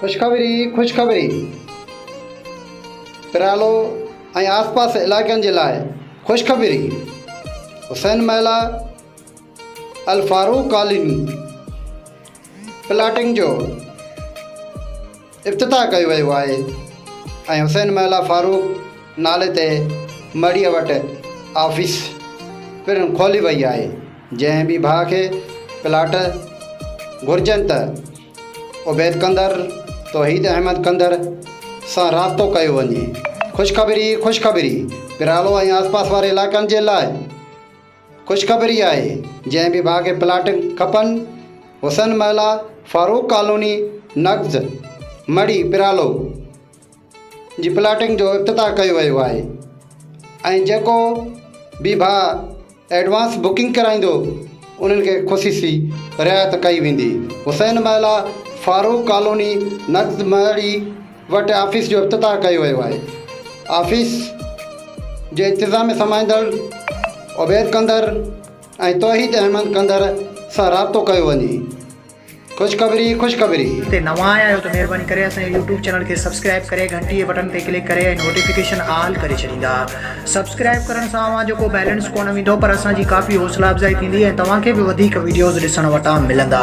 خوشخبري خوشخبري پرالو ۽ آس پاس علائقن جي لاء خوشخبري حسين محلا الفاروق ڪالوني پلاٽنگ جو افتتاح ڪيو ويو آهي ۽ حسين محلا فاروق نالي تي مڙيء وٽ آفيس پڻ کولي وئي آهي، جنهن به ڀاء کي پلاٽ گهرجن ته عبيد ڪنڌر، توحيد احمد ڪنڌر سان رابطو ڪيو وڃي. خوشخبري ئي خوشخبري پرالو ۽ آسپاس واري علائقن جي لاء. خوشخبري آهي جنهن به ڀاء کي پلاٽ کپن حسن محلا فاروق ڪالوني نقض مڙي پرالو جي پلاٽنگ جو افتتاح ڪيو ويو آهي ۽ جيڪو به ڀاء ايڊوانس بڪنگ ڪرائيندو انهن کي خصيصي رعايت ڪئي ويندي حسين محلا فاروق ڪالوني نقض مڙي وٽ آفيس جو افتتاح ڪيو ويو آهي آفيس جي انتظام ۾ سمائيندڙ عبيد ڪنڌر ۽ توحيد احمد ڪنڌر سان رابطو ڪيو وڃي خوشخبري خوشخبري. تي نوان آيا آهيو ته مهرباني ڪري اسان جي يوٽيوب چينل کي سبسڪرائب ڪري گهنٽي جي بٽڻ تي ڪلڪ ڪري ۽ نوٽيفڪيشن آل ڪري ڇڏيندا سبسڪرائب ڪرڻ سان اوهان جو ڪو بيلنس ڪونه ويندو پر اسان جي ڪافي حوصلا افزائي ٿيندي ۽ توهان کي به وڌيڪ وڊيوز ڏسڻ وٽان ملندا.